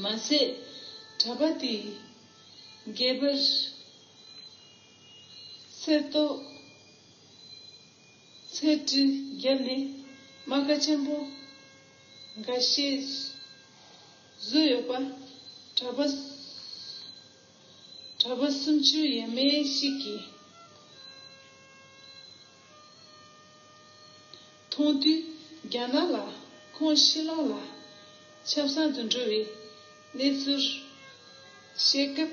མ་ཟད་གྲྭ་པ་དེས་རྒྱས་པར་གསེར་མདོག་ཚལ་གྲི་བརྒྱབ་ནས་རྨ་ཁ་ཆེན་པོ་འགའ་ཤས་བཟོས་ཡོད་པ་གྲྭ་པ་གྲྭ་པ་སུམ་ཅུ་ཡས་མས་ཤིག་གིས། མཐོང་དུས་རྒྱ་ནག་ལ་ཁོངས་ཤི་ལོང་ལ་ཆབ་སྲང་དུ་འགྲོ་བའི་གནས་ཚུལ་བཤད་སྐབས་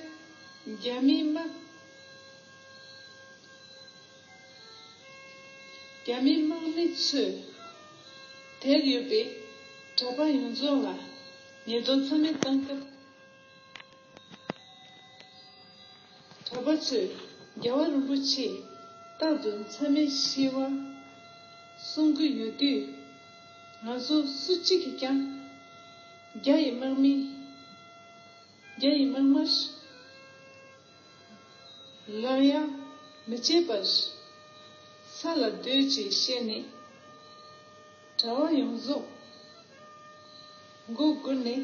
རྒྱ་མིའི་དམག་རྒྱ་མིའི་དམག་མི་ཚོས་དེར་ཡོད་པའི་གྲྭ་པ་ཡོངས་རྫོགས་ལ་ཉེས་རྡུང་རྩོམ་ཡིག་བཏང་སྐབས། གྲྭ་པ་ཚོས་རྒྱལ་བ་རིན་པོ་ཆེས་རྟག་ཏུ་མཚམས་མེད་ཞི་བ་གསུང་གི་ཡོད་དུས། ང་ཚོ་སུ་གཅིག་གིས་ཀྱང་རྒྱ་ཡི་དམག་མི། རྒྱ་ཡི་དམག་དམར། ལ་ཡ་མི་བྱེད་པར་ས་ལ་སྡོད་ཅེས་བཤད་ནས་གྲྭ་བ་ཡོངས་རྫོགས་མགོ་སྒུར་ནས།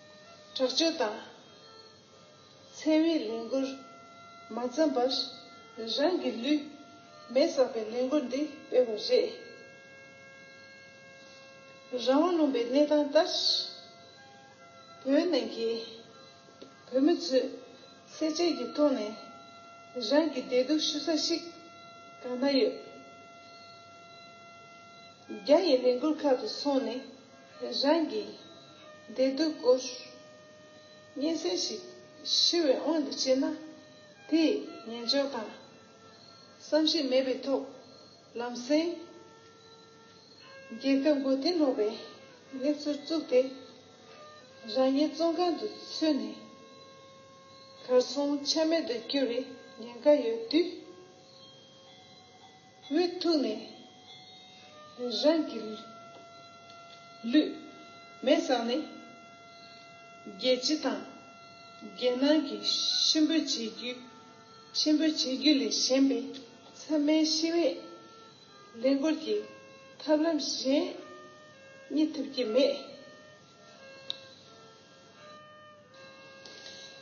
དྲག་སྤྱོད་དང། འཚེ་བའི་ལས་འགུལ་མ་བརྩམས་པར་རང་གི་ལུས་མེ་བསགས་པའི་ལས་འགུལ་འདི་སྤེལ་བ་རེད། རང་དབང་ལུང་པའི་གནས་སྟངས་ལྟར་བོད་ནང་གི་བོད་མི་ཚོས་བསྲེག་བཅད་ཀྱི་ཐོག་ནས་རང་གི་བདེ་སྡུག་ཞུ་ས་ཞིག་གང་ན་ཡོད། རྒྱ་ཡི་ལས་འགུལ་ཁག་ཏུ་སོང་ནས། རང་གི་བདེ་སྡུག་སྐོར། སྙན་སེང་ཞིག་ཞུ་བའི་དབང་དུ་བྱས་ན། དེས་ཉན་འཇོག་དང་བསམ་གཞིགས་མེད་པའི་ཐོག་ལམ་སེང། རྒྱལ་ཁབ་མགོ་རྟིང་སློག་པའི་གནས་ཚུལ་བཙུགས་ཏེ། རང་ཉིད་བཙོན་ཁང་དུ་ཚུད་ནས་གར་སོང་ཆ་མེད་དུ་གྱུར་བའི་ཉེན་ཁ་ཡོད་དུས། བུའི་ཐུགས་ནས་རང་གི་ལུས། མེ་བསངས་ནས། རྒྱལ་སྤྱི་དང་རྒྱལ་ནང་གི་གཤིན་པོའི་བྱེད་རྒྱུ། གཤིན་པོའི་བྱེད་རྒྱུ་ལས་གཞན་པའི་མཚམས་མེད་ཤི་བས། ལས་འཁོར་གྱི་ཐབས་ལམ་གཞན་རྙེད་ཐུབ་ཀྱི་མེད།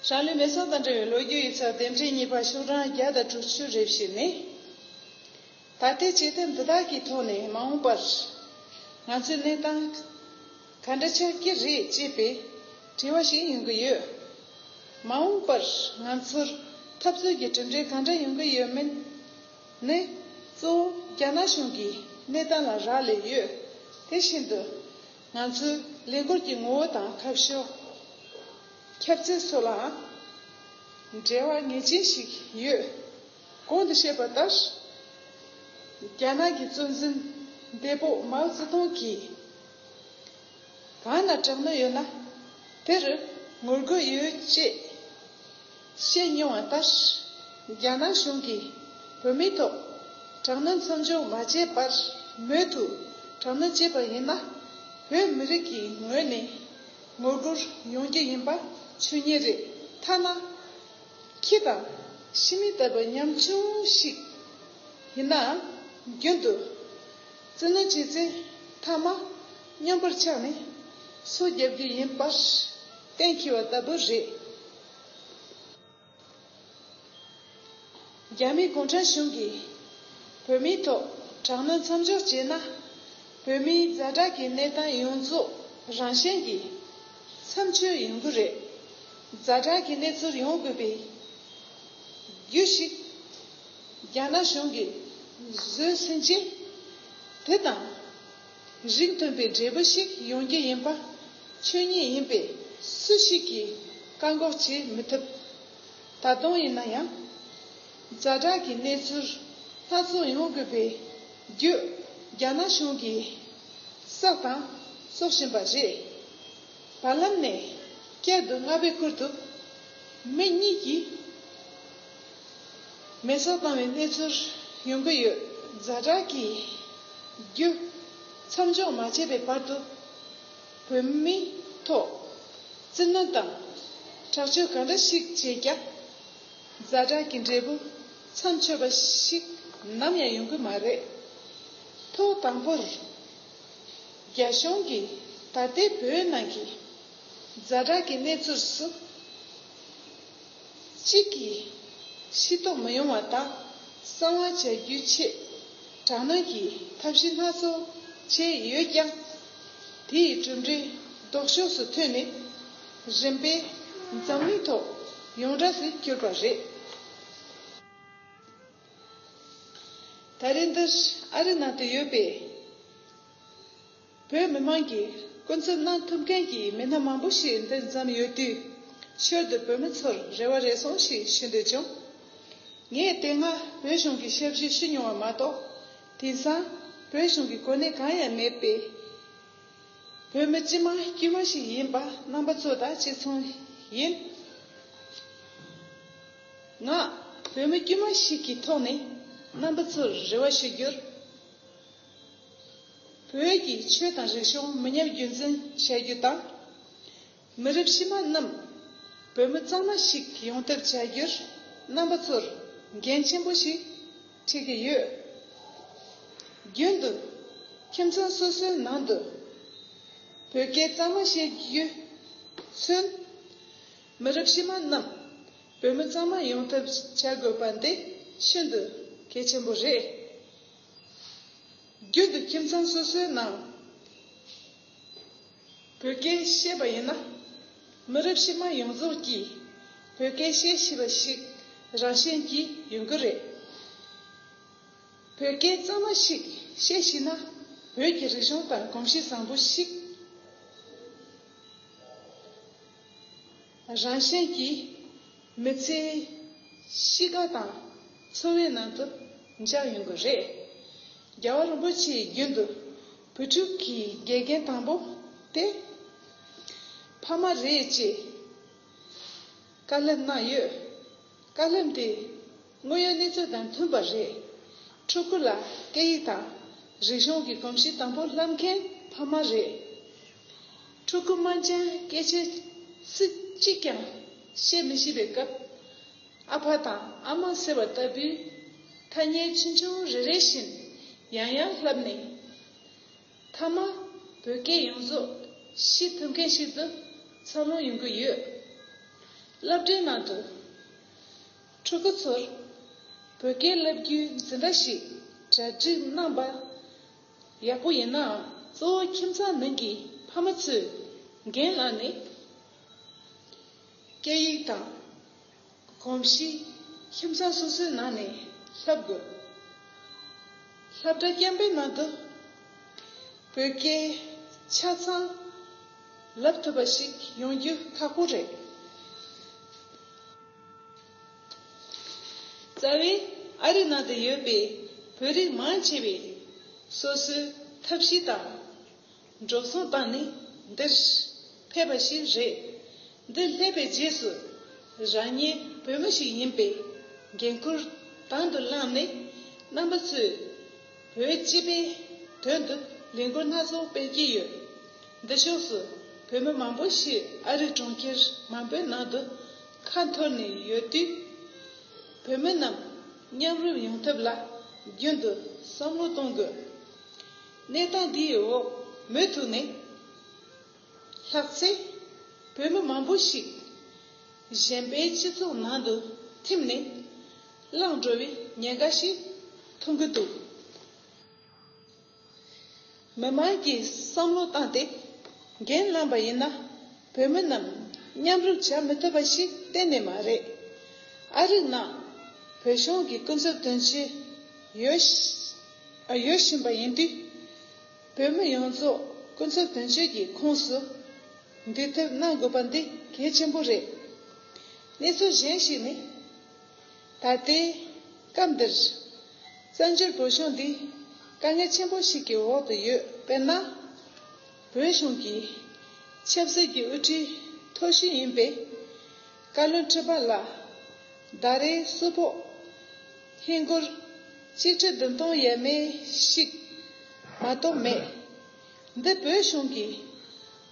ཧྲང་ལི་མེ་སོགས་དང་འབྲེལ་བའི་ལོ་རྒྱུས་ཡིག་ཚགས་དེབ་འབྲི་གཉིས་པ་ཤོག་གྲངས་བརྒྱ་དང་དྲུག་ཅུ་རེ་བཞི་ནི། ད་ལྟའི་བྱེད་ཐབས་འདི་དག་གི་ཐོག་ནས་མ་འོངས་པར་ང་ཚོའི་གནས་སྟངས་ག་འདྲ་ཆགས་ཀྱི་རེད་ཅེས་པའི་དྲི་བ་ཞིག་ཡོང་གི་ཡོད། མ་འོངས་པར་ང་ཚོར་འཐབ་རྩོད་ཀྱི་གྲུབ་འབྲས་གང་འདྲ་ཡོང་གི་ཡོད་མེད་ནི། གཙོ་བོ་རྒྱ་ནག་གཞུང་གི་གནས་སྟངས་ལ་རག་ལས་ཡོད། དེ་བཞིན་དུ། ང་ཚོའི་ལས་འགུལ་གྱི་ངོ་བོ་དང་ཐབས་ཤོ། ཁྱབ་ཚད་སོགས་ལའང་འབྲེལ་བ་ངེས་ཅན་ཞིག་ཡོད། གོང་དུ་བཤད་པ་ལྟར། རྒྱ་ནག་གི་གཙོ་འཛིན་འདས་པོ་མའོ་ཙེ་ཏུང་གིས། གང་ན་དྲག་གནོན་ཡོད་ན་དེར་ངོ་རྒོལ་ཡོད་ཅེས། བཤད་མྱོང་བ་ལྟར། རྒྱ་ནག་གཞུང་གིས་བོད་མིའི་ཐོག་དྲག་གནོན་མཚམས་འཇོག་མ་བྱས་པར་མོས་མཐུ་དྲག་གནོན་བྱས་པ་ཡིན་ན། བོད་མི་རིགས་ཀྱི་ངོས་ནས་ངོ་རྒོལ་ཡོང་རྒྱུ་ཡིན་པ་ཆོས་ཉིད་རེད། ཐ་ན། ཁྱི་དང་ཤི་མི་ལྟ་བུའི་ཉམ་ཆུང་ཞིག་ཡིན་ནའང་རྒྱུན་དུ་བཙན་གནོན་བྱས་ཚེ་མཐའ་མ་སྙོམས་པར་ཆགས་ནས་སོ་བརྒྱབ་རྒྱུ་ཡིན་པར་གཏན་འཁེལ་བ་ལྟ་བུ་རེད། རྒྱ་མི་གུང་ཁྲན་གཞུང་གིས་བོད་མིའི་ཐོག་དྲག་གནོན་མཚམས་འཇོག་བྱས་ན། བོད་མིའི་རྫ་དྲག་གི་གནས་སྟངས་ཡོངས་རྫོགས་རང་གཞན་གྱི་མཚམས་ཆོད་ཡོང་གི་རེད། རྫ་དྲག་གི་གནས་ཚུལ་ཡོང་དགོས་པའི་རྒྱུ་ཞིག་རྒྱ་ནག་གཞུང་གིས་བཟོས་ཟིན་རྗེས། དེ་དང། རིགས་མཐུན་པའི་འབྲས་བུ་ཞིག་ཡོང་རྒྱུ་ཡིན་པ་ཆོས་ཉིད་ཡིན་པས་སུ་ཞིག་གིས་བཀག་འགོག་བྱེད་མི་ཐུབ། ད་དུང་ཡིན་ན་ཡང། བྱ་བྲག་གི་གནས་ཚུལ་སྣ་ཚོགས་ཡོང་དགོས་པའི་རྒྱུ་རྒྱ་ནག་གཞུང་གིས་བསགས་དང་གསོག་བཞིན་པ་རེད། བར་ལམ་ནས་བསྐྱར་དུ་རྔ་བས་ཁུར་ཐུབ། མི་གཉིས་ཀྱིས། མེ་གསོད་བཏང་བའི་གནས་ཚུལ་ཡོང་གི་ཡོད། རྫ་བྲག་གིས་རྒྱུ་མཚམས་འཇོག་མ་བྱས་པའི་བར་དུ་བོད་མིའི་ཐོག་བཙན་གནོན་དང་དྲག་སྤྱོད་ག་འདྲ་ཞིག་བྱས་ཀྱང་རྫ་བྲག་གི་འབྲས་བུ་མཚམས་ཆོད་པ་ཞིག་ནམ་ཡང་ཡོང་གི་མ་རེད། ཐོག་དང་པོར་རྒྱ་གཞུང་གིས་ད་ལྟའི་བོད་ནང་གི་རྫ་བྲག་གི་གནས་ཚུལ་སུ་གཅིག་གིས་ཤི་ཐོ་མི་ཡོང་བ་དག་གསང་བ་བྱ་རྒྱུའི་ཆེད་དྲག་གནོན་གྱི་ཐབས་ཤེས་སྣ་ཚོགས་བྱས་ཡོད་ཀྱང། དེ་ཡི་གྲུབ་འབྲས་ལྡོག་ཕྱོགས་སུ་ཐོན་ནས་རིམ་པས་འཛམ་གླིང་ཐོག་ཡོངས་གྲགས་སུ་གྱུར་པ་རེད། ད་རེས་འདིར་ཨ་རི་ནང་དུ་ཡོད་པའི། བོད་མི་མང་གིས་སྐུ་འཚོལ་གནང་ཐུབ་མཁན་གྱི་མི་སྣ་མང་པོ་ཞིག་འདིར་འཛོམས་ཡོད་དུས། ཞོར་དུ་བོད་མི་ཚོར་རེ་བ་རེ་ཟུང་ཞིག་ཞུ་འདོད་བྱུང། ངས་དེ་སྔ་བོད་གཞུང་གི་ཞབས་ཞུ་ཞུས་མྱོང་བ་མ་གཏོགས། དེང་སང་བོད་གཞུང་གི་གོ་གནས་གང་ཡང་མེད་པས། བོད་མི་སྤྱི་མང་དཀྱུས་མ་ཞིག་ཡིན་པ་རྣམ་པ་ཚོ་དང་གཅིག་མཚུངས་ཡིན། ང་བོད་མི་དཀྱུས་མ་ཞིག་གི་ཐོག་ནས་རྣམ་པ་ཚོར་རེ་བ་ཞུ་རྒྱུར། བོད་ཀྱི་ཆོས་དང་རིག་གཞུང་མི་ཉམས་རྒྱུན་འཛིན་བྱ་རྒྱུ་དང། མི་རབས་ཕྱི་མ་རྣམས་བོད་མི་གཙང་མ་ཞིག་ཡོང་ཐབས་བྱ་རྒྱུར་རྣམ་པ་ཚོར་འགན་ཆེན་པོ་ཞིག་འཁྲི་གི་ཡོད། རྒྱུན་དུ་ཁྱིམ་ཚང་སོ་སོའི་ནང་དུ་བོད་སྐད་གཙང་མ་བཤད་རྒྱུས་མཚོན། མི་རབས་ཕྱི་མ་རྣམས་བོད་མི་གཙང་མ་ཡོང་ཐབས་བྱ་དགོས་པ་འདི་ཤིན་ཏུ་གལ་ཆེན་པོ་རེད། རྒྱུན་དུ་ཁྱིམ་ཚང་སོ་སོའི་ནང་བོད་སྐད་བཤད་པ་ཡིན་ན། མི་རབས་ཕྱི་མ་ཡོངས་རྫོགས་ཀྱིས་བོད་སྐད་བཤད་ཤེས་པ་ཞིག་རང་བཞིན་གྱིས་ཡོང་གི་རེད། བོད་སྐད་གཙང་མ་ཞིག་བཤད་ཤེས་ན་བོད་ཀྱི་རིག་གཞུང་དང་གོམས་གཤིས་བཟང་པོ་ཞིག། རང་གཞན་གྱི་མི་ཚེའི་གཤིས་ཀ་དང་འཚོ་བའི་ནང་དུ་འཇགས་ཡོང་གི་རེད། རྒྱལ་བ་རིན་པོ་ཆེའི་རྒྱུན་དུ་བུ་ཕྲུག་གི་དགེ་རྒན་དང་པོ་དེ་ཕ་མ་རེད་ཅེས་བཀའ་སློབ་གནང་ཡོད། བཀའ་སློབ་དེ། དངོས་ཡོད་གནས་ཚུལ་དང་མཐུན་པ་རེད། ཕྲུ་གུ་ལ་སྐད་ཡིག་དང། རིག་གཞུང་གི་གོམས་གཤིས་དང་པོ་བསླབ་མཁན་ཕ་མ་རེད། ཕྲུ་གུ་དམངས་ཆེན་སྐད་ཆའི་ཚིག་གཅིག་ཀྱང་བཤད་མི་ཤེས་པའི་སྐབས། ཨ་ཕ་དང་ཨ་མ་ཟེར་བ་ལྟ་བུའི་ཐ་སྙད་ཆུང་ཆུང་རེ་རེ་བཞིན་ཡང་ཡང་བསླབས་ནས། མཐའ་མ་བོད་སྐད་ཡོངས་རྫོགས་ཤེས་ཐུབ་མཁན་ཞིག་ཏུ་འཚར་ལོངས་ཡོང་གི་ཡོད། བསླབ་གྲྭའི་ནང་དུ། ཕྲུ་གུ་ཚོར་བོད་སྐད་བསླབ་རྒྱུའི་འཛིན་གྲྭ་ཞིག་གྲ་སྒྲིག་གནང་པ་ཡག་པོ་ཡིན་ནའང་གཙོ་བོ་ཁྱིམ་ཚང་ནང་གི་ཕ་མ་ཚོས་རྒན་ལགས་ནས་སྐད་ཡིག་དང་གོམས་གཤིས་ཁྱིམ་ཚང་སོ་སོའི་ནང་ནས་བསླབ་དགོས། བསླབ་གྲྭ་རྐྱང་པའི་ནང་དུ་བོད་སྐད་ཆ་ཚང་ལབ་ཐུབ་པ་ཞིག་ཡོང་རྒྱུ་ཁག་པོ་རེད། རྩ་བའི་ཨ་རི་ནང་དུ་ཡོད་པའི་བོད་རིགས་མང་ཆེ་བས་སོ་སོའི་ཐབས་ཤེས་དང། འགྲོ་སོང་དང་ནི་འདིར་ཕེབས་པ་ཞིག་རེད། འདིར་སླེབས་པའི་རྗེས་སུ་རང་ཉིད་བོད་མི་ཞིག་ཡིན་པའི་འགན་ཁུར་དང་དུ་བླངས་ནས་རྣམ་པ་ཚོས། བོད་སྤྱི་པའི་དོན་དུ་ལས་འགུལ་སྣ་ཚོགས་སྤེལ་གྱི་ཡོད། འདི་ཕྱོགས་སུ་བོད་མི་མང་པོ་ཞིག་ཨ་རི་གྲོང་ཁྱེར་མང་པོའི་ནང་དུ་ཁ་འཐོར་ནས་ཡོད་དུས། བོད་མི་རྣམས་མཉམ་རུབ་ཡོང་ཐབས་ལ་རྒྱུན་དུ་བསམ་བློ་གཏོང་དགོས། གནས་སྟངས་འདིའི་འོག་མུ་མཐུད་ནས། ལྷག་ཚེ། བོད་མི་མང་པོ་ཞིག་གཞན་པའི་སྤྱི་ཚོགས་ནང་དུ་ཐིམ་ནས་བླངས་འགྲོ་བའི་ཉེན་ཁ་ཞིག་མཐོང་གི་འདུག་མི་དམངས་ཀྱི་བསམ་བློ་བཏང་སྟེ་འགན་བླངས་པ་ཡིན་ན་བོད་མི་རྣམས་མཉམ་རུབ་བྱ་མི་ཐུབ་པ་ཞིག་གཏན་ནས་མ་རེད། ཨ་རིག་ནང་བོད་གཞུང་གི་སྐུ་ཚབ་དོན་གཅོད་ཡོད་བཞིན་པ་ཡིན་དུས། བོད་མི་ཡོངས་རྫོགས་སྐུ་འཚོ་དོན་གཅོད་ཀྱི་ཁོངས་སུ་འདུས་ཐབས་གནང་དགོས་པ་འདི་གལ་ཆེན་པོ་རེད། གནས་ཚུལ་གཞན་ཞིག་ནི། ད་ལྟའི་སྐབས་འདིར་བཙན་བྱོལ་བོད་གཞུང་འདི་དཀའ་ངལ་ཆེན་པོ་ཞིག་གི་འོག་ཏུ་ཡོད་པས་ན། བོད་གཞུང་གི་ཆབ་སྲིད་ཀྱི་དབུ་ཁྲིད་མཐོ་ཤོས་ཡིན་པའི། བཀའ་བློན་ཁྲི་པ་ལ། ཟླ་རེའི་བསུ་ཕོག། ཧིན་སྒོར། གཅིག་ཁྲི་བདུན་སྟོང་ཡས་མས་ཤིག། མ་གཏོགས་མེད། འདི་བོད་གཞུང་གི།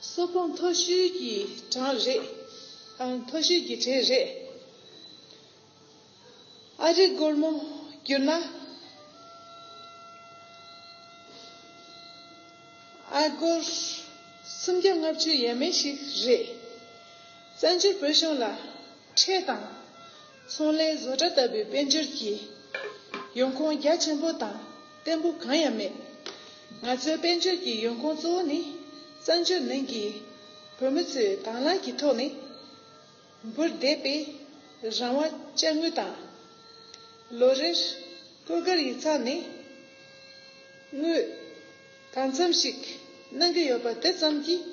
བསུ་ཕོག་མཐོ་ཤོས་ཀྱི་གྲངས་རེད། མཐོ་ཤོས་ཀྱི་གྲས་རེད། ཨ་རིག་སྒོར་མོ་བསྐྱུར་ན། ཨ་སྒོར་སུམ་བརྒྱ་ལྔ་བཅུ་ཡས་མས་ཤིག་རེད། བཙན་བྱོལ་བོད་གཞུང་ལ་ཁྲལ་དང། ཚོང་ལས་བཟོ་གྲྭ་ལྟ་བུའི་དཔལ་འབྱོར་གྱི་ཡོང་ཁུངས་རྒྱ་ཆེན་པོ་དང་བརྟན་པོ་གང་ཡང་མེད། ང་ཚོའི་དཔལ་འབྱོར་གྱི་ཡོང་ཁུངས་གཙོ་བོ་ནི་བཙན་བྱོལ་ནང་གི་བོད་མི་ཚོའི་དྭང་བླངས་ཀྱི་ཐོག་ནས། འབུར་བརྡེག་པས་རང་དབང་བཅའ་དངུལ་དང། ལོ་རེར་སྐུ་སྒེར་ཡིག་ཚང་ནས་དངུལ་གང་འཚམས་ཤིག་གནང་གི་ཡོད་པ་དེ་ཙམ་གྱིས་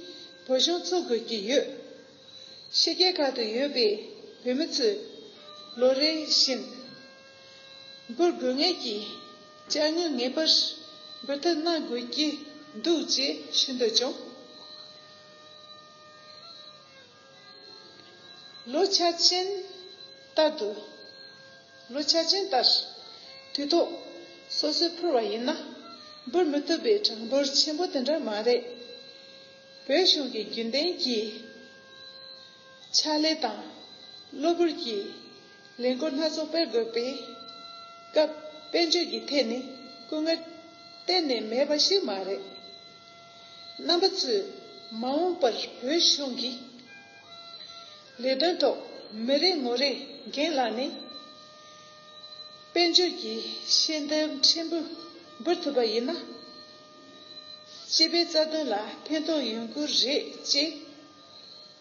བོད་གཞུང་འཚོ་དགོས་ཀྱི་ཡོད། ཕྱི་རྒྱལ་ཁག་ཏུ་ཡོད་པའི་བོད་མི་ཚོས་ལོ་རེ་བཞིན་འབུར་དགོས་ངེས་ཀྱི་བཅའ་དངུལ་ངེས་པར་འབུལ་ཐབས་གནང་དགོས་ཀྱི་འདུག་ཅེས་ཞུ་འདོད་བྱུང། ལོ་ཆ་ཅན་ལྟར་དུ། ལོ་ཆ་ཅན་ལྟར། དུས་ཐོག་སོ་སོས་འཕུར་བ་ཡིན་ན། འབུར་མི་ཐུབ་པའི་གྲངས་འབོར་ཆེན་པོ་དེ་འདྲ་མ་རེད། བོད་གཞུང་གི་རྒྱུན་ལྡན་གྱི། ཕྱག་ལས་དང། གློ་བུར་གྱི། ལས་འགོ་སྣ་ཚོགས་སྤེལ་དགོས་པའི། སྐབས་དཔལ་འབྱོར་གྱི་ཐད་ནས་སྐུ་ངལ། གཏན་ནས་མེད་པ་ཞིག་མ་རེད། རྣམ་པ་གཙོས་མ་འོངས་པར་བོད་གཞུང་གི་ལས་དོན་ཐོག་མི་རེ་ངོ་རེ་འགན་ལྷག་ནས་དཔལ་འབྱོར་གྱི་ཤེས་ལྡན་ཕྲན་བུ་འབུལ་ཐུབ་པ་ཡིན་ན། སྤྱི་པའི་རྩ་དོན་ལ་ཕན་ཐོགས་ཡོང་གི་རེད་ཅེས་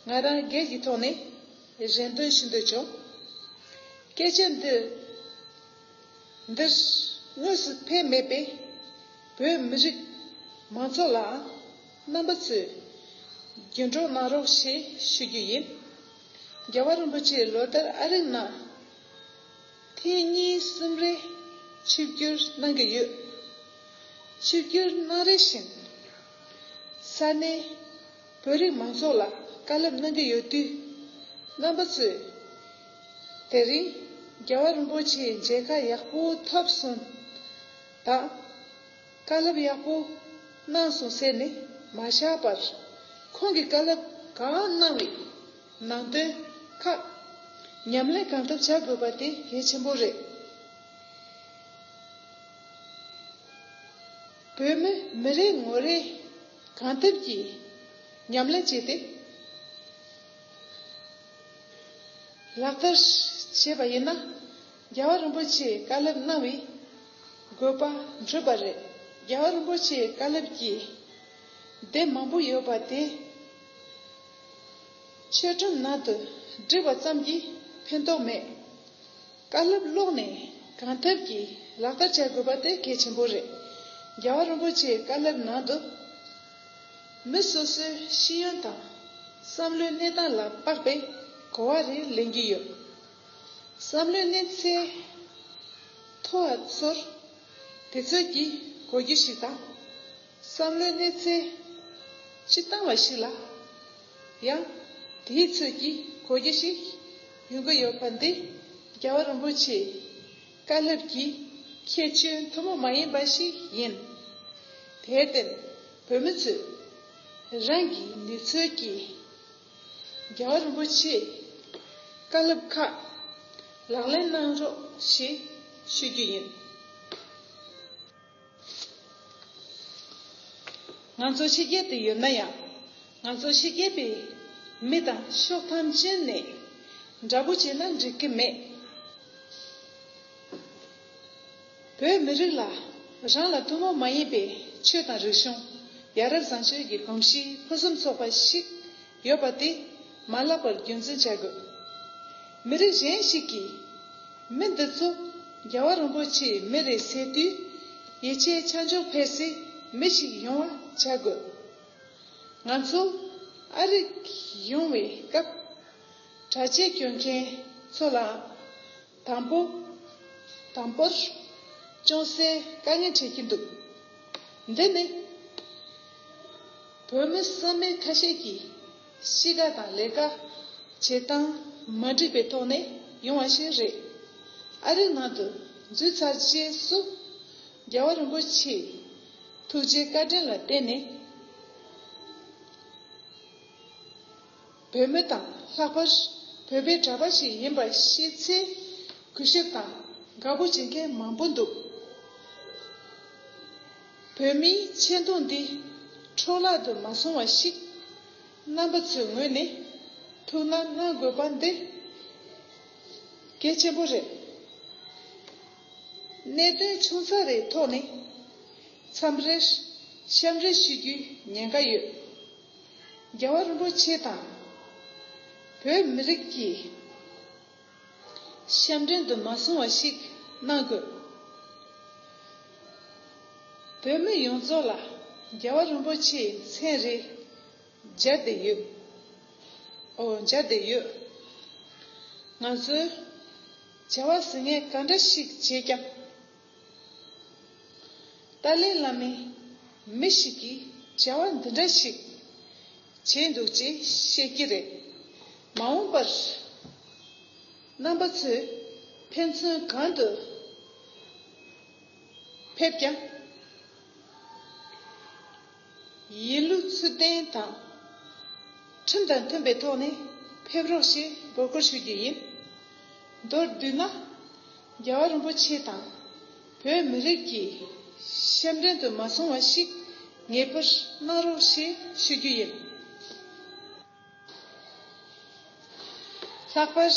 ང་རང་སྒེར་གྱི་ཐོག་ནས་རེ་འདུན་ཞུ་འདོད་བྱུང། སྐད་ཆ་འདི། འདིར་དངོས་སུ་ཕན་མེད་པས་བོད་མི་རིགས་མང་ཚོགས་ལའང་རྣམ་པ་ཚོས་རྒྱུན་སྒྲོག་གནང་རོགས་ཞེས་ཞུ་རྒྱུ་ཡིན། རྒྱལ་བ་རིན་པོ་ཆེས་ལོ་ལྟར་ཨ་རིའི་ནང་ཐེངས་གཉིས་གསུམ་རེ་ཆིབས་བསྒྱུར་གནང་གི་ཡོད། ཆིབས་བསྒྱུར་གནང་རེ་བཞིན་ས་གནས། བོད་རིགས་མང་ཚོགས་ལ་བཀའ་སློབ་གནང་གི་ཡོད་དུས། རྣམ་པ་ཚོས། དེ་རིང། རྒྱལ་བ་རིན་པོ་ཆེའི་མཇལ་ཁ་ཡག་པོ་ཐོབ་སོང། དང། བཀའ་སློབ་ཡག་པོ་གནང་སོང་ཟེར་ནས་མ་བཞག་པར། ཁོང་གིས་བཀའ་སློབ་གང་གནང་བའི་ནང་དོན་ཁག། ཉམས་ལེན་གང་ཐུབ་བྱ་དགོས་པ་དེ་གལ་ཆེན་པོ་རེད། བོད་མི་མི་རེ་ངོ་རེས། གང་ཐུབ་ཀྱིས་ཉམས་ལེན་བྱས་ཏེ་ལག་བསྟར་བྱས་པ་ཡིན་ན་རྒྱལ་བ་རིན་པོ་ཆེའི་བཀའ་སློབ་གནང་བའི་དགོས་པ་འགྲུབ་པ་རེད། རྒྱལ་བ་རིན་པོ་ཆེའི་བཀའ་སློབ་ཀྱི་སྡེབ་མང་པོ་ཡོད་པ་དེ་ཆོས་སྒྲོམ་ནང་དུ་བསྒྲིགས་པ་ཙམ་གྱིས་ཕན་ཐོགས་མེད། དཀའ་སློབ་ཀློག་ནས་གང་ཐུབ་ཀྱིས་ལག་བསྟར་བྱ་དགོས་པ་དེ་གལ་ཆེན་པོ་རེད། རྒྱལ་བ་རིན་པོ་ཆེའི་བཀའ་སློབ་ནང་དུ། མི་སོ་སོའི་ཤེས་ཡོན་དང་བསམ་བློའི་གནས་སྟངས་ལ་དཔག་པའི་གོ་བ་རེ་ལེན་གྱི་ཡོད། བསམ་བློའི་གནས་ཚད་མཐོ་བ་ཚོར་དེ་ཚོད་ཀྱིས་གོ་རྒྱུ་ཞིག་དང། བསམ་བློའི་གནས་ཚད་སྤྱི་བཏང་བ་ཞིག་ལ་ཡང་དེའི་ཚོད་ཀྱི་གོ་རྒྱུ་ཞིག་ཡོང་གི་ཡོད་པ་འདི་རྒྱལ་བ་རིན་པོ་ཆེའི་བཀའ་སློབ་ཀྱི་ཁྱད་ཆོས་མཐོན་པོ་མ་ཡིན་པ་ཞིག་ཡིན། དེར་བརྟེན་བོད་མི་ཚོས་རང་གི་ནུས་ཚོད་ཀྱིས་རྒྱལ་བ་རིན་པོ་ཆེའི་བཀའ་སློབ་ཁག་ལག་ལེན་གནང་རོགས་ཞེས་ཞུ་རྒྱུ་ཡིན། ང་ཚོ་ཕྱི་རྒྱལ་དུ་ཡོད་ན་ཡང་ང་ཚོ་ཕྱི་རྒྱལ་པའི་མི་དང་ཤོག་ཐམས་ཅད་ནས་འདྲ་པོ་བྱས་ན་འགྲིག་གི་མེད། བོད་མི་རིགས་ལ་རང་ལ་ཐུན་མོང་མ་ཡིན་པའི་ཆོས་དང་རིག་གཞུང་ཡ་རབས་བཟང་སྤྱོད་ཀྱི་གོམས་གཤིས་ཕུན་སུམ་ཚོགས་པ་ཞིག་ཡོད་པ་དེ་མ་བརླག་པར་རྒྱུན་འཛིན་བྱ་དགོས། མི་རིགས་གཞན་ཞིག་གིས་མི་འདི་ཚོ་རྒྱལ་བ་རིན་པོ་ཆེའི་མི་རེད་ཟེར་དུས། ཡིད་ཆེས་ཆ་འཇོག་འཕེར་སའི་མི་ཞིག་ཡོང་བ་བྱ་དགོས། ང་ཚོ་ཨ་རིག་ཡོང་བའི་སྐབས། གྲྭ་ཆས་གྱོན་མཁན་ཚོ་ལའང། དང་པོ། དང་པོར། ཅུང་ཟད་དཀའ་ངལ་འཕྲད་ཀྱི་འདུག་འདི་ནི། བོད་མི་བསམ་མེད་ཁ་ཤས་ཀྱིས་གཤིས་ཀ་དང་ལས་ཀ་བྱེད་སྟངས་མ་འགྲིག་པའི་ཐོག་ནས་ཡོང་བ་ཞིག་རེད། ཨ་རིའི་ནང་དུ་འཛུལ་ཚར་རྗེས་སུ། རྒྱལ་བ་རིན་པོ་ཆེའི་ཐུགས་རྗེའི་བཀའ་དྲིན་ལ་བརྟེན་ནས། བོད་མི་དང་ལྷག་པར་བོད་པའི་གྲྭ་པ་ཞིག་ཡིན་པ་ཤེས་ཚེ་གུས་ཞབས་དང་དགའ་པོ་བྱེད་མཁན་མང་པོ་འདུག་བོད་མིའི་མཆན་ཐུང་འདི་འཕྲོ་བརླག་ཏུ་མ་སོང་བ་ཞིག་རྣམ་པ་ཚོའི་ངོས་ནས་ཐུགས་སྣང་གནང་དགོས་པ་འདི་གལ་ཆེན་པོ་རེད། གནད་དོན་ཆུང་ཚགས་རེའི་ཐོག་ནས་མཚམས་རེར་བཤམས་རེ་ཞུ་རྒྱུའི་ཉེན་ཁ་ཡོད། རྒྱལ་བ་རིན་པོ་ཆེ་དང་བོད་མི་རིགས་ཀྱི་ཞབས་འདྲེན་དུ་མ་སོང་བ་ཞིག་གནང་དགོས། བོད་མི་ཡོངས་རྫོགས་ལ་རྒྱལ་བ་རིན་པོ་ཆེའི་མཚན་རེ་སྦྱར་བསྡད་ཡོད། ཨོ་སྦྱར་བསྡད་ཡོད། ང་ཚོའི་བྱ་བ་ཟིང་ངེ་ག་འདྲ་ཞིག་བྱས་ཀྱང། ཏཱ་ལའི་བླ་མས་མི་ཞིག་གིས་བྱ་བ་འདི་འདྲ་ཞིག་བྱས་འདུག་ཅེས་བཤད་ཀྱི་རེད། མ་འོངས་པར་རྣམ་པ་ཚོས་ཕན་ཚུན་གང་དུ་ཕེབས་ཀྱང། ཡིན་ལུགས་ཚུལ་ལྡན་དང། ཁྲིམས་དང་མཐུན་པའི་ཐོག་ནས་ཕེབས་རོགས་ཞེས་སྒོར་སྐོར་ཞུ་རྒྱུ་ཡིན། མདོར་བསྡུས་ན། རྒྱལ་བ་རིན་པོ་ཆེ་དང་བོད་མི་རིགས་ཀྱི་ཞབས་འདྲེན་དུ་མ་སོང་བ་ཞིག་ངེས་པར་གནང་རོགས་ཞེས་ཞུ་རྒྱུ་ཡིན། ལྷག་པར་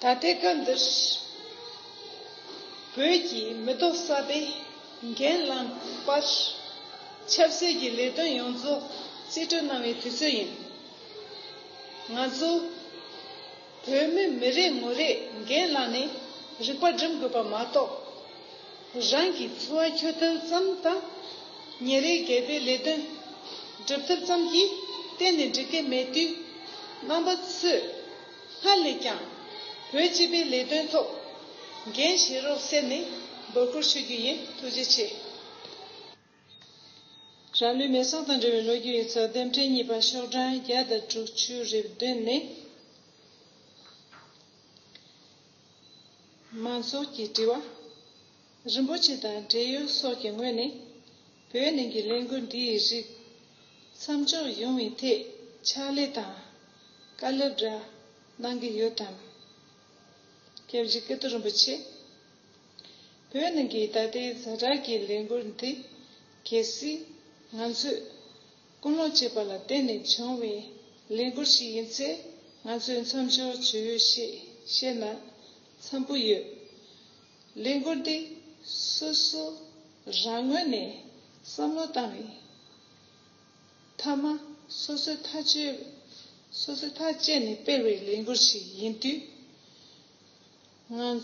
ད་ལྟའི་སྐབས་འདིར་བོད་ཀྱི་མི་ཐོག་གསར་པས་འགན་བླངས་པར་ཆབ་སྲིད་ཀྱི་ལས་དོན་ཡོངས་རྫོགས་རྩིས་སྤྲོད་གནང་བའི་དུས་ཚོད་ཡིན། ང་ཚོ། བོད་མི་མི་རེ་ངོ་རེས་འགན་བླངས་ནས་རིག་པ་སྒྲིམ་དགོས་པ་མ་གཏོགས། རང་གི་འཚོ་བ་འཁྱོལ་ཐབས་ཙམ་དང། ཉིན་རེའི་འགལ་པའི་ལས་དོན་སྒྲུབ་ཐབས་ཙམ་གྱིས་གཏན་ནས་འགྲིག་གི་མེད་དུས། རྣམ་པ་ཚོས་སྔར་ལས་ཀྱང་བོད་སྤྱི་པའི་ལས་དོན་ཐོག་འགན་བཞེས་རོགས་ཟེར་ནས་འབོད་སྐུལ་ཞུ་རྒྱུ་ཡིན་ཐུགས་རྗེ་ཆེ། རང་ལུས་མེ་སྲེག་དང་འབྲེལ་བའི་ལོ་རྒྱུས་ཡིག་ཚགས་ལྡེབ་འཕྲེང་གཉིས་པ་ཤོག་གྲངས་བརྒྱ་དང་དྲུག་ཅུའི་རེ་འདུན་ནི། མང་ཚོགས་ཀྱི་དྲི་བ། རིན་པོ་ཆེ་དང་འབྲེལ་ཡོད་སོགས་ཀྱི་ངོས་ནས་བོད་ནང་གི་ལས་འགུལ་འདིའི་རིགས་མཚམས་འཇོག་ཡོང་བའི་ཐད་ཕྱག་ལས་དང་བཀའ་སློབ་འདྲ་གནང་གི་ཡོད་དམ། སྐྱབས་རྗེ་ཀིརྟི་རིན་པོ་ཆེ། བོད་ནང་གི་ད་ལྟའི་གཟའ་གྲགས་ཀྱི་ལས་འགུལ་འདི། གལ་སྲིད། ང་ཚོས། ཀུན་སློང་བྱས་པ་ལ་བརྟེན་ནས་བྱུང་བའི་ལས་འགུལ་ཞིག་ཡིན་ཚེ། ང་ཚོས་མཚམས་འཇོག་བྱེད་འོས་ཞེས་བཤད་ན། འཚམས་པོ་ཡོད། ལས་འགུལ་འདི། སོ་སོ། རང་ངོས་ནས། བསམ་བློ་བཏང་བའི། མཐའ་མ། སོ་སོའི་ཐག་གཅོད། སོ་སོའི་ཐག་བཅད་ནས་སྤེལ་བའི་ལས་འགུལ་ཞིག་ཡིན་དུས། ང་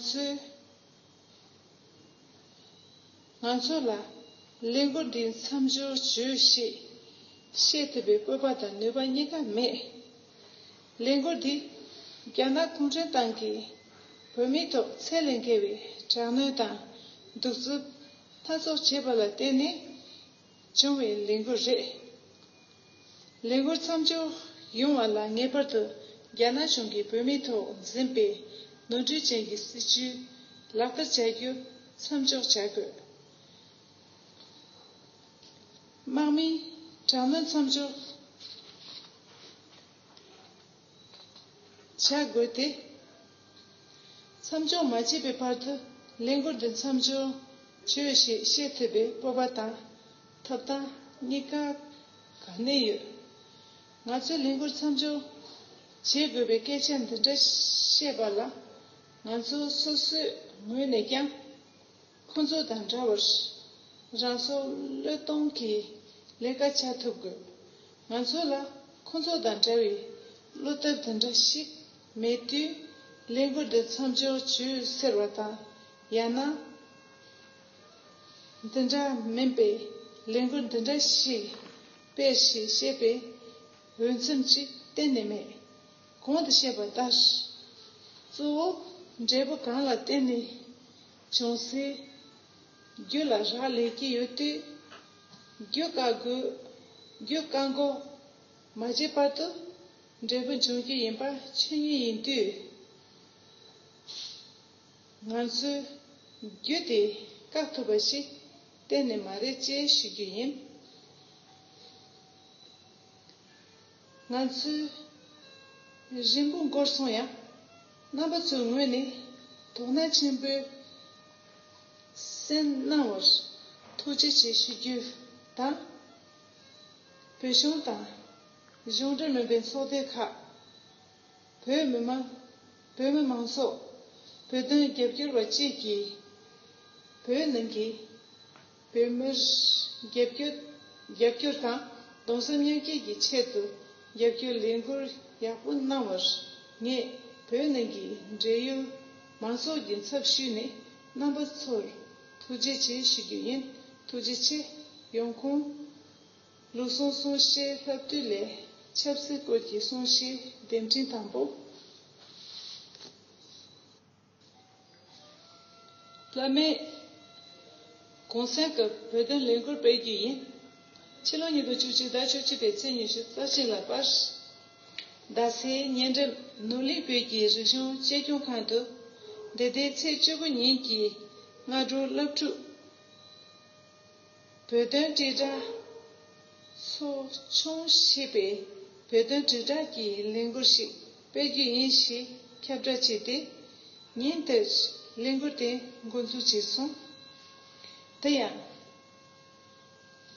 ཚོ་ལ་ལས་འགུལ་འདིའི་མཚམས་སྦྱོར་བྱོས་ཞེས་བཤད་ཐུབ་པའི་སྤོབས་པ་དང་ནུས་པ་གཉིས་ཀ་མེད། ལས་འགུལ་འདི་རྒྱ་ནག་གུང་ཁྲན་ཏང་གིས་བོད་མིའི་ཐོག་ཚད་ལས་འགལ་བའི་དྲག་གནོན་དང་གདུག་རྩུབ་སྣ་ཚོགས་བྱས་པ་ལ་བརྟེན་ནས་བྱུང་བའི་ལས་འགུལ་རེད། ལས་འགུལ་མཚམས་འཇོག་ཡོང་བ་ལ་ངེས་པར་དུ་རྒྱ་ནག་གཞུང་གིས་བོད་མིའི་ཐོག་འཛིན་པའི་ནོར་འཁྲུལ་ཅན་གྱི་སྲིད་བྱུས་ལག་བསྟར་བྱ་རྒྱུ་མཚམས་འཇོག་བྱ་དགོས། དམག་མིའི་དྲག་གནོན་མཚམས་འཇོག། བྱ་དགོས་ཏེ། མཚམས་སྦྱོར་མ་བྱས་པའི་བར་དུ་ལས་འགུལ་འདི་མཚམས་སྦྱོར་བྱོས་ཞེས་བཤད་ཐུབ་པའི་སྤོབས་པ་དང་ཐོབ་ཐང་གཉིས་ཀ་ག་ནས་ཡོད། ང་ཚོས་ལས་འགུལ་མཚམས་སྦྱོར་བྱེད་དགོས་པའི་སྐད་ཆ་འདི་འདྲ་བཤད་པ་ལ་ང་ཚོ་སོ་སོའི་ངོས་ནས་ཀྱང། ཁོ་ཚོ་དང་འདྲ་བར་རང་སྲོག་བློས་གཏོང་གིས་ལས་ཀ་བྱ་ཐུབ་དགོས། ང་ཚོ་ལ་ཁོ་ཚོ་དང་འདྲ་བའི་བློ་སྟབས་དེ་འདྲ་ཞིག་མེད་དུས་ལས་འགུལ་འདི་མཚམས་འཇོག་བྱོས་ཟེར་བ་དང་ཡང་ན་འདི་འདྲ་མིན་པའི་ལས་འགུལ་འདི་འདྲ་ཞིག་སྤེལ་ཞེས་བཤད་པའི་འོས་འཚམས་ཅིག་གཏན་ནས་མེད། གོང་དུ་བཤད་པ་ལྟར་གཙོ་བོ་འབྲས་བུ་གང་ལ་བརྟེན་ནས། བྱུང་སྲིད། རྒྱུ་ལ་རག་ལས་ཀྱི་ཡོད་དུས། རྒྱུ་བཀག་དགོས། རྒྱུ་བཀག་འགོག་མ་བྱས་བར་དུ། འབྲས་བུ་འབྱུང་རྒྱུ་ཡིན་པ་ཆོས་ཉིད་ཡིན་དུས། ང་ཚོས་རྒྱུ་དེ་བཀག་ཐུབ་པ་ཞིག་གཏན་ནས་མ་རེད་ཅེས་ཞུ་རྒྱུ་ཡིན། ང་ཚོས་རིང་པོ་འགོར་སོང་ཡང། རྣམ་པ་ཚོའི་ངོས་ནས་དོགས་སྣང་ཆེན་པོས་སེམས་སྣང་བར་ཐུགས་རྗེ་ཆེ་ཞུ་རྒྱུ་དང། བོད་གཞུང་དང། གཞུང་འབྲེལ་མིན་པའི་ཚོགས་སྡེ་ཁག། བོད་མི་དམངས། བོད་མི་མང་ཚོགས། བོད་དོན་རྒྱབ་སྐྱོར་བ་བཅས་ཀྱིས། བོད་ནང་གི། བོད་མིར། རྒྱབ་སྐྱོར། རྒྱབ་སྐྱོར་དང་གདུང་སེམས་མཉམ་སྐྱེད་ཀྱི་ཆེད་དུ་རྒྱབ་སྐྱོར་ལས་འགུལ་ཡག་པོ་གནང་བར། ངས་བོད་ནང་གི་འབྲེལ་ཡོད་མང་ཚོགས་ཀྱི་ཚབ་ཞུས་ནས་རྣམ་པ་ཚོར་ཐུགས་རྗེ་ཆེ་ཞུ་རྒྱུ་ཡིན། ཐུགས་རྗེ་ཆེ། ཡོང་ཁུངས། ལུགས་ཟུང་གསུང་བཤད་ལྷབ་བསྡུས་ལས་ཆབ་སྲིད་སྐོར་གྱི་གསུང་བཤད་འདེམས་འཕྲིན་དང་པོ། བླ་མེད། གོང་གསལ་གྱི་བོད་དོན་ལས་འགུལ་སྤེལ་རྒྱུ་ཡིན། ཕྱི་ལོ་ཉིས་སྟོང་བཅུ་གཅིག་ཟླ་བཅུ་གཅིག་པའི་ཚེས་ཉི་ཤུ་རྩ་གཅིག་ལ་པར་རྡ་སའི་ཉེ་འགྲམ་ནུབ་གླིང་བོད་ཀྱི་རིག་གཞུང་གཅེས་སྐྱོང་ཁང་དུ་འདི་ཟླའི་ཚེས་བཅུ་དགུ་ཉིན་གྱི་སྔ་དྲོར་སློབ་ཕྲུག་བོད་དོན་དྲིལ་བསྒྲགས། ཚོགས་ཆུང་ཞེས་པས་བོད་དོན་དྲིལ་བསྒྲགས་ཀྱི་ལས་འགུལ་ཞིག་སྤེལ་རྒྱུ་ཡིན་ཞེས་ཁྱབ་བསྒྲགས་བྱས་ཏེ། ཉིན་དེར་ལས་འགུལ་དེ་མགོ་འཛུགས་བྱས་སོང། དེ་ཡང།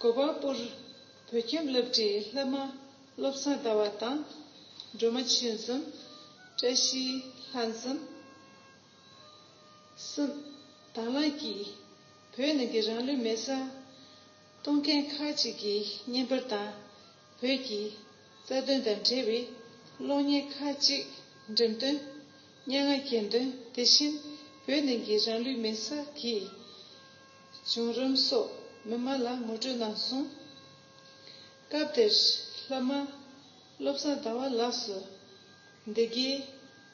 གོ་པ་པུར་བོད་ཁྱིམ་སློབ་གྲྭའི་སློབ་མ་བློ་བཟང་ཟླ་བ་དང། སྒྲོལ་མ་ཆོས་འཛོམས། བཀྲ་ཤིས་ལྷ་འཛོམས། གསུམ། དྭང་བླངས་ཀྱིས། བོད་ནི་འདི་རང་ལུས་མེད་སར། གཏོང་མཁན་ཁག་ཅིག་གིས་བརྙན་པར་དང། བོད་ཀྱི། རྩ་དོན་དང་འབྲེལ་བའི། གློག་བརྙན་ཁག་ཅིག་འགྲེམས་སྟོན། སྙན་ངག་གྱེར་འདོན་དེ་བཞིན་བོད་ནི་འདི་རང་ལུས་མེད་སར་གྱི། བྱུང་རིམ་སོགས་མི་མང་ལ་ངོ་སྤྲོད་གནང་སོང། སྐབས་དེར། ལྷ་མ། བློ་བཟང་ཟླ་བ་ལགས་སུ། བདེ་དགེའི་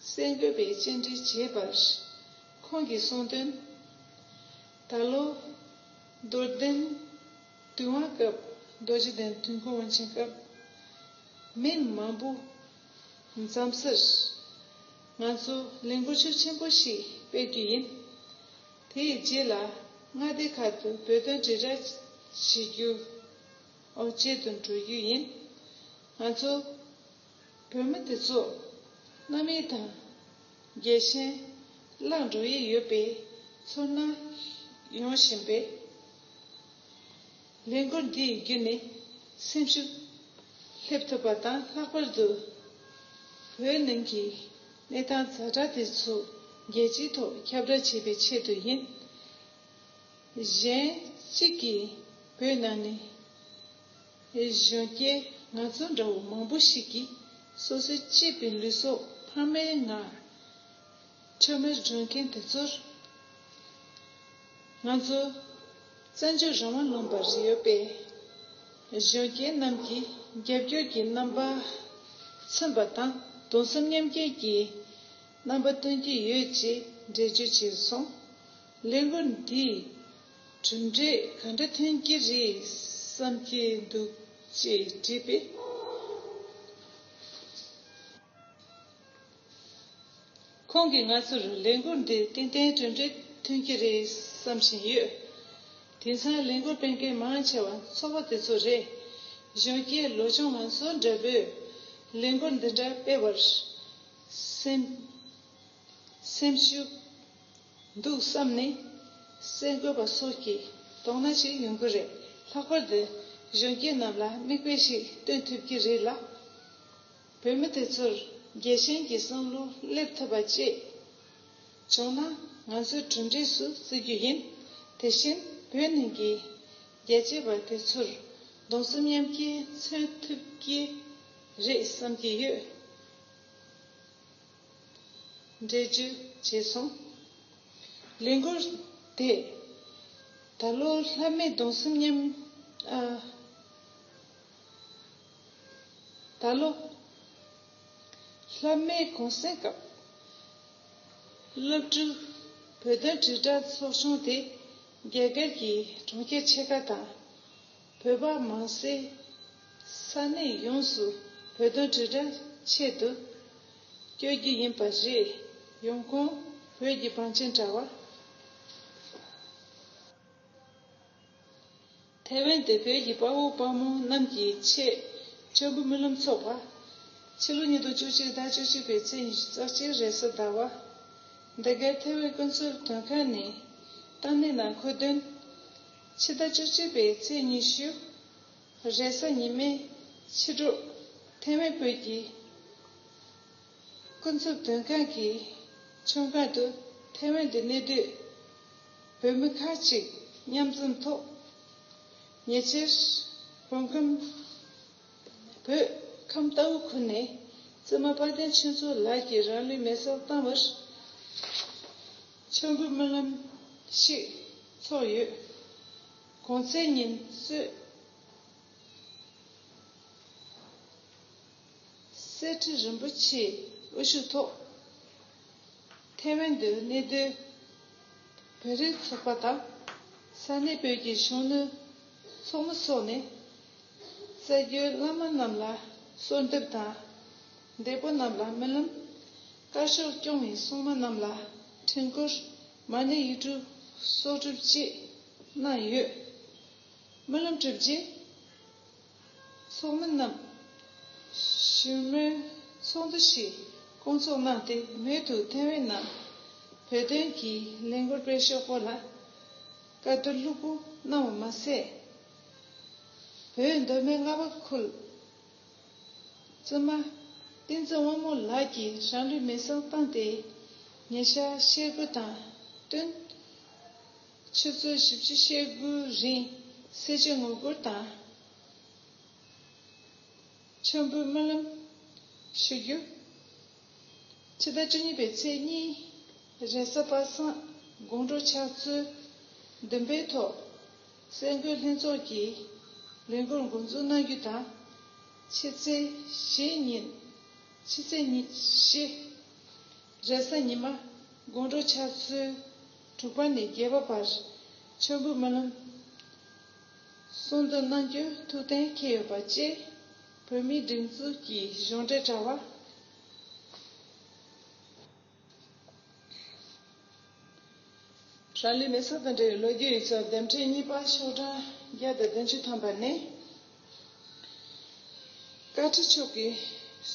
གསེར་འགོད་པའི་བཅར་འདྲི་བྱས་པར། ཁོང་གིས་གསུངས་དོན། ད་ལོ། རྡོར་གདན། དུས་དབང་སྐབས་རྡོ་རྗེ་གདན་དུས་འཁོར་དབང་ཆེན་སྐབས། མི་མང་པོ། འཛམ་སར། ང་ཚོ་ལས་འགུལ་ཆོས་ཆེན་པོ་ཞིག་སྤེལ་རྒྱུ་ཡིན། དེའི་རྗེས་ལ་མངའ་སྡེ་ཁག་ཏུ་བོད་དོན་དྲིལ་བསྒྲགས་བྱེད་རྒྱུ། ཨོ་བྱེད་དུ་འགྲོ་རྒྱུ་ཡིན། ང་ཚོ་བོད་མི་དེ་ཚོ་གནའ་མི་དང་རྒྱལ་ཞེན་བརླག་འགྲོ་ཡི་ཡོད་པའི་ཚོར་སྣང་ཡོང་བཞིན་པས། ལས་འགུལ་འདི་ཡི་བརྒྱུད་ནས་སེམས་ཤུགས་སླེབས་ཐུབ་པ་དང་ལྷག་པར་དུ་བོད་ནང་གི་གནས་སྟངས་གཟའ་གྲ་དེ་ཚོ་རྒྱལ་སྤྱིའི་ཐོག་ཁྱབ་བསྒྲགས་བྱེད་པའི་ཆེད་དུ་ཡིན། གཞན་གཅིག་གིས་བོད་ནང་ནས་གཞོན་སྐྱེས་ང་ཚོ་འདྲ་བོ་མང་པོ་ཞིག་གིས་སོ་སོའི་གཅེས་པའི་ལུས་སྲོག་ཕ་མའི་ངག་ཁྲོད་མེར་སྒྲོན་མཁན་དེ་ཚོར་ང་ཚོ་བཙན་བྱོལ་རང་དབང་ལུང་པར་ཡོད་པའི་གཞོན་སྐྱེས་རྣམས་ཀྱི་རྒྱབ་སྐྱོར་གྱི་རྣམ་པ་མཚོན་པ་དང་དུང་སེམས་མཉམ་སྐྱེད་ཀྱི་རྣམ་པ་སྟོན་གྱི་ཡོད་ཅེས་འགྲེལ་བརྗོད་བྱས་སོང། གླེང་བ་འདིས་གྲུབ་འབྲས་ག་འདྲ་ཐོན་གྱི་རེད་བསམ་གྱི་འདུག་ཅེས་དྲིས་པས། ཁོང་གིས་ང་ཚོར་ལས་འགུལ་འདིས་ཏན་ཏན་གྲུབ་འབྲས་ཐོན་གྱི་རེད་བསམ་བཞིན་ཡོད། དེང་སང་ལས་འགུལ་སྤེལ་མཁན་མང་ཆེ་བ་ཚོ་བ་དེ་ཚོ་རེད། གཞོན་སྐྱེས་ལོ་ཆུང་ང་ཚོ་འདྲ་བོས་ལས་འགུལ་འདི་འདྲ་སྤེལ་བར་སེམས། སེམས་ཤུགས། འདུག་བསམ་ནི། གསལ་འགོད་པ་སོགས་ཀྱིས་དོགས་སྣང་ཞིག་ཡོང་གི་རེད་ལྷག་པར་དུ་གཞོན་སྐྱེས་རྣམས་ལ་མིག་དཔེ་ཞིག་སྟོན་ཐུབ་ཀྱི་རེད་ལ། བོད་མི་དེ་ཚོར་རྒྱལ་ཞེན་གྱི་བསམ་བློ་སླེབས་ཐུབ་པ་བཅས་བྱུང་ན་ང་ཚོས་གྲུབ་འབྲས་སུ་བརྩི་རྒྱུ་ཡིན། དེ་བཞིན་བོད་ནང་གི་རྒྱལ་གཅེས་པ་དེ་ཚོར་གདུང་སེམས་མཉམ་སྐྱེ་མཚོན་ཐུབ་ཀྱི་རེད་བསམ་གྱི་ཡོད། འདྲེ་རྒྱུ་བྱས་སོང། ལས་འགུལ་དེས་ད་ལོ་ལྷ་མེད་གདུང་སེམས་མཉམ། ད་ལོ་ལྷ་མེད་གུང་སེང་སྐབས། སློབ་ཕྲུག་བོད་དོན་དྲིལ་བསྒྲགས་ཚོགས་ཆུང་དེ་རྒྱ་གར་གྱི་གྲོང་ཁྱེར་ཆེ་ཁ་དང། བོད་པ་མང་སའི་ས་གནས་ཡོངས་སུ་བོད་དོན་དྲིལ་བསྒྲགས་ཆེད་དུ་བསྐྱོད་རྒྱུ་ཡིན་པ་རེད། ཡོང་ཁུངས་བོད་ཀྱི་བང་ཆེན་དྲ་བ། ཐའེ་ཝན་དེ་བོད་ཀྱི་དཔའ་བོ་དཔའ་མོ་རྣམས་ཀྱི་ཆེད་མཆོད་འབུལ་སྨོན་ལམ་ཚོགས་པ། ཕྱི་ལོ་ཉིས་སྟོང་བཅུ་གཅིག་ཟླ་བཅུ་གཅིག་པའི་ཚེས་ཉི་ལྕགས་སྤྱིལ་རས་གཟའ་ཟླ་བ། འདི་གའི་ཐའེ་ཝན་དཀོན་ཚོར་དོན་ཁང་ནས་ཏང་ནན་ནང་འཁོད་དོན། ཕྱི་ཟླ་བཅུ་གཅིག་པའི་ཚེས་ཉི་ཤུ། རེས་གཟའ་ཉི་མའི་ཕྱི་དྲོ། ཐེ་ཝན་བོད་ཀྱི་སྐུ་འཚུབ་དོན་ཁང་གི་ཚོན་ཁང་དུ་ཐེ་ཝན་དུ་གནས་སྡོད་བོད་མི་ཁག་ཅིག་མཉམ་འཛོམས་ཐོག་ཉེ་ཆར་བོད་ཁམས་བོད་ཁམས་རྟའུ་ཁུལ་ནས་བཙུན་མ་དཔལ་ལྡན་ཆོས་མཚོ་ལགས་ཀྱིས་རང་ལུས་མེ་སྲེག་བཏང་བར། མཆོད་འབུལ་སྨོན་ལམ་ཞིག་ཚོགས་ཡོད། གོང་ཚེས་ཉིན་གསེར་ཁྲི་རིན་པོ་ཆེའི་དབུ་བཞུགས་ཐོག་ཐའེ་ཝན་དུ་གནས་སྡོད་བོད་རིགས་ཚོགས་པ་དང་ས་གནས་བོད་ཀྱི་གཞོན་ནུ་ཚོགས་མི་སོགས་ནས་གསར་འགྱུར་བླ་མ་རྣམས་ལ་གསོལ་འདེབས་དང་འདས་པོ་རྣམས་ལ་སྨོན་ལམ། བཀའ་ཤོག་སྐྱོང་བའི་སྲུང་མ་རྣམས་ལ་འཕྲིན་བསྐུར་མ་ཎི་ཡིག་འབྲུ་སོགས་གྲུབ་བཅས་གནང་ཡོད། སྨོན་ལམ་གྲུབ་རྗེས། ཚོགས་མི་རྣམས་ཞུ་སྨོན་ཚོགས་འདུ་ཞིག་བསྐོང་ཚོགས་གནང་སྟེ་མོལ་དུ་ཐེ་ཝན་ནང་བོད་དོན་གྱི་ལས་འགུལ་སྤེལ་ཕྱོགས་སྐོར་ལ་བཀའ་བསྡུར་ལྷུག་པོ་གནང་བ་མ་ཟད། བོད་མདོ་སྨད་རྔ་བ་ཁུལ། བཙུན་མ། བསྟན་འཛིན་དབང་མོ་ལགས་ཀྱིས་རང་རིགས་མི་གསང་སྟངས་དེ། ཉེ་ཆར་བཤད་སྒོ་དང་བསྟུན། ཆུ་ཚོད་བཞི་བཅུ་བཤད་སྒོའི་རིང་གསེར་བྱེ་ངོ་རྒོར་དང། མཆོད་འབུལ་སྨོན་ལམ། ཞུ་རྒྱུ། ཕྱི་ཟླ་བཅུ་གཉིས་པའི་ཚེས་གཉིས། རེས་གཟའ་པ་སངས་དགོང་དྲོ་ཕྱག་ཚོད་བདུན་པའི་ཐོག། སེམས་འགུལ་ལྷན་ཚོགས་ཀྱིས་ལས་འགུལ་མགོ་འཛུགས་གནང་རྒྱུ་དང། ཕྱི་ཚེས་བཞི་ཉིན། ཕྱི་ཚེས་བཞི། རེས་གཟའ་ཉི་མ་དགོང་དྲོ་ཆར་ཚོུད་དྲུག་པ་ནས་བརྒྱད་པ་བར་མཆོད་འབུལ་སྨོན་ལམ་གསུང་འདོན་གནང་རྒྱུ་ཐུགས་གཏན་འཁེལ་ཡོད་པ་བཅས་བོད་མིའི་སྒྲིག་འཛུགས་ཀྱི་གཞུང་འབྲེལ་དྲ་བ། རང་ལུས་མེ་སྲོག་དང་འབྲེལ་བའི་ལོ་རྒྱུས་ཡིག་ཚོགས་འདེམས་འཕྲིན་གཉིས་པ་ཤོག་གྲངས་བརྒྱ་དང་བདུན་ཅུ་ཐམ་པ་ནི། བཀའ་ཁྲི་མཆོག་གིས་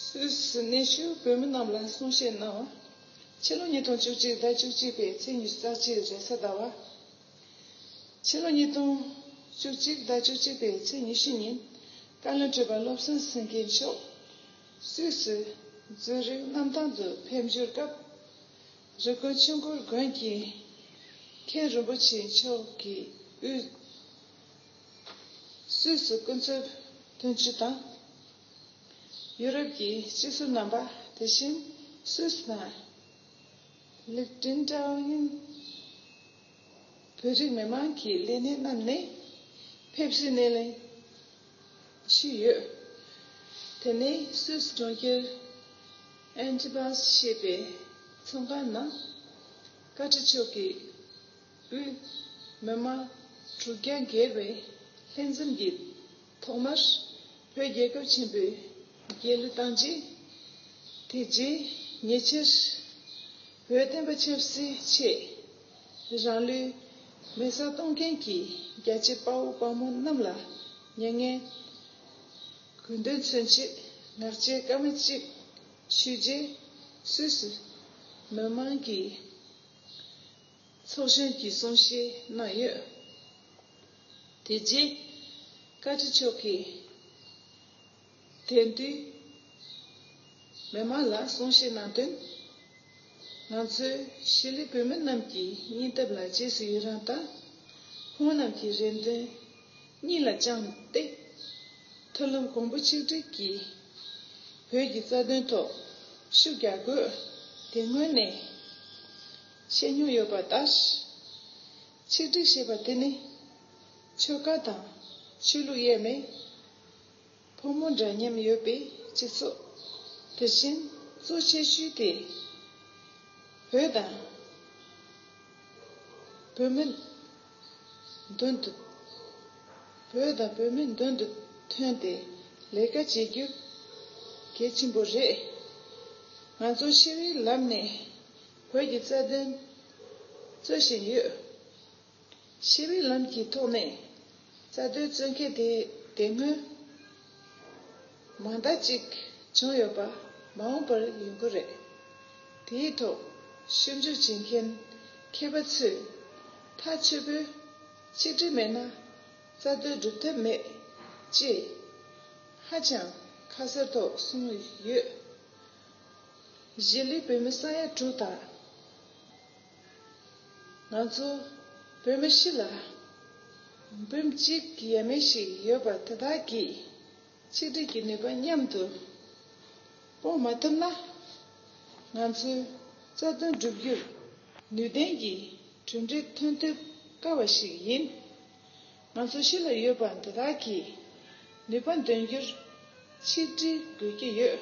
སུད་སི་གནས་བཞུགས་བོད་མི་རྣམས་ལ་གསུང་བཤད་གནང། ཕྱི་ལོ་ཉིས་སྟོང་བཅུ་གཅིག་ཟླ་བཅུ་གཅིག་པའི་ཚེས་ཉི་ཤུ་རྩ་གཅིག་རེས་གཟའ་ཟླ་བ། ཕྱི་ལོ་ཉིས་སྟོང་བཅུ་གཅིག་ཟླ་བཅུ་གཅིག་པའི་ཚེས་ཉི་ཤུ་ཉིན་བཀའ་བློན་ཁྲི་པ་བློ་བཟང་སེང་གེ་མཆོག་སུད་སི་རྫོང་རིག་གནམ་ཐང་དུ་ཕེབས་འབྱོར་སྐབས། རི་ཀོན་ཆུ་མགོར་དགོན་གྱི་མཁན་རིན་པོ་ཆེ་མཆོག་གིས་དབུས་སུད་སི་སྐུ་འཚོ་དོན་གཅོད་དང། ཡུ་རོབ་ཀྱི་སྤྱི་ཟུར་རྣམ་པ་དེ་བཞིན་སུད་སི་དང། ལིག་ཀྲིན་ཀྲའོ་ཡིན། བོད་རིགས་མི་མང་གི་ལས་སྣེ་རྣམས་ནས་ཕེབས་བསུའི་སྣེ་ལེན་ཞུས་ཡོད། དེ་ནི་སུད་གྲོང་ཁྱེར་ཨན་ཏི་བཱས་ཞེས་པའི་མཚོ་འགག་ན་བཀའ་ཁྲི་མཆོག་གིས་དབུས་མི་དམངས་དྲུག་བརྒྱ་བརྒལ་བའི་ལྷན་འཛོམས་ཀྱི་ཐོག་མར་བོད་རྒྱལ་ཁབ་ཆེན་པོའི་རྒྱལ་གླུ་བཏང་རྗེས། དེ་རྗེས་ཉེ་ཆར་བོད་བསྟན་པ་ཆབ་སྲིད་ཆེད། རང་ལུས་མེ་བསྲེགས་གཏོང་མཁན་གྱི་རྒྱལ་གཅེས་དཔའ་བོ་དཔའ་མོ་རྣམས་ལ་མྱ་ངན་གུས་འདུད་མཚོན་ཆེད་ངག་བཅད་སྐར་མ་གཅིག་ཞུས་རྗེས་སུད་སི་མི་དམངས་ཀྱི་ཚོགས་གཞོན་གྱིས་གསུང་བཤད་གནང་ཡོད། དེ་རྗེས་བཀའ་ཁྲི་མཆོག་གིས། དེ་དུས། མི་མང་ལ་གསུང་བཤད་གནང་དོན། ང་ཚོའི་ཤེས་ལས་བོད་མི་རྣམས་ཀྱི་སྙིང་སྟབས་ལ་རྗེས་སུ་ཡི་རང་དང། ཁོང་རྣམས་ཀྱི་རེ་འདུན་སྙིང་ལ་བཅངས་ཏེ། མཐུན་ལམ་གོང་བུ་ཆིག་སྒྲིལ་གྱིས་བོད་ཀྱི་རྩ་དོན་ཐོག་ཤུགས་རྒྱག་དགོས་དེ་སྔོན་ནས་བཤད་མྱོང་ཡོད་པ་ལྟར། ཆིག་སྒྲིལ་ཞེས་པ་དེ་ནི་ཆོལ་ཁ་དང་ཆོས་ལུགས་དབྱེར་མེད། ཕོ་མོ་འདྲ་མཉམ་ཡོད་པའི་སྤྱི་ཚོགས། དེ་བཞིན་གཙོ་ཆེ་ཤོས་དེ་བོད་དང། བོད་མི། མདུན་དུ། བོད་དང་བོད་མི་མདུན་དུ་ཐོན་ཏེ་ལས་ཀ་བྱེད་རྒྱུ་གལ་ཆེན་པོ་རེད། ང་ཚོ་ཤི་བའི་ལམ་ནས་བོད་ཀྱི་རྩ་དོན་རྩོད་བཞིན་ཡོད། ཞི་བའི་ལམ་གྱི་ཐོག་ནས་རྩ་དོན་རྩོད་མཁན་དེ་དེ་སྔོན་མང་དག་ཅིག་བྱུང་ཡོད་པ་མ་འོངས་པར་ཡོང་གི་རེད། དེའི་ཐོག་ཞིབ་འཇུག་བྱེད་མཁན་མཁས་པ་ཚོས་ཐག་ཆོད་པོས་གཅིག་སྒྲིལ་མེད་ན་རྩ་དོན་སྒྲུབ་ཐབས་མེད་ཅེས་ཧ་ཅང་ཁ་གསལ་ཐོག་གསུངས་ཡོད། གཞིས་ལུས་བོད་མི་ས་ཡ་དྲུག་དང། ང་ཚོ་བོད་མི་ཞིག་ལ་འབུམ་གཅིག་གི་ཡས་མས་ཤིག་ཡོད་པ་དེ་དག་གིས་ཆིག་སྒྲིལ་གྱི་ནུས་པ་མཉམ་དུ་སྤོ་མ་ཐུབ་ན། ང་ཚོའི་རྩ་དོན་བསྒྲུབ་རྒྱུར་ནུས་ལྡན་གྱི་གྲུབ་འབྲས་ཐོན་ཐུབ་དཀའ་བ་ཞིག་ཡིན། ང་ཚོ་གཞི་ལ་ཡོད་པ་འདི་དག་གིས་ནུས་པ་འདོན་རྒྱུར་ཆིག་སྒྲིལ་དགོས་ཀྱི་ཡོད།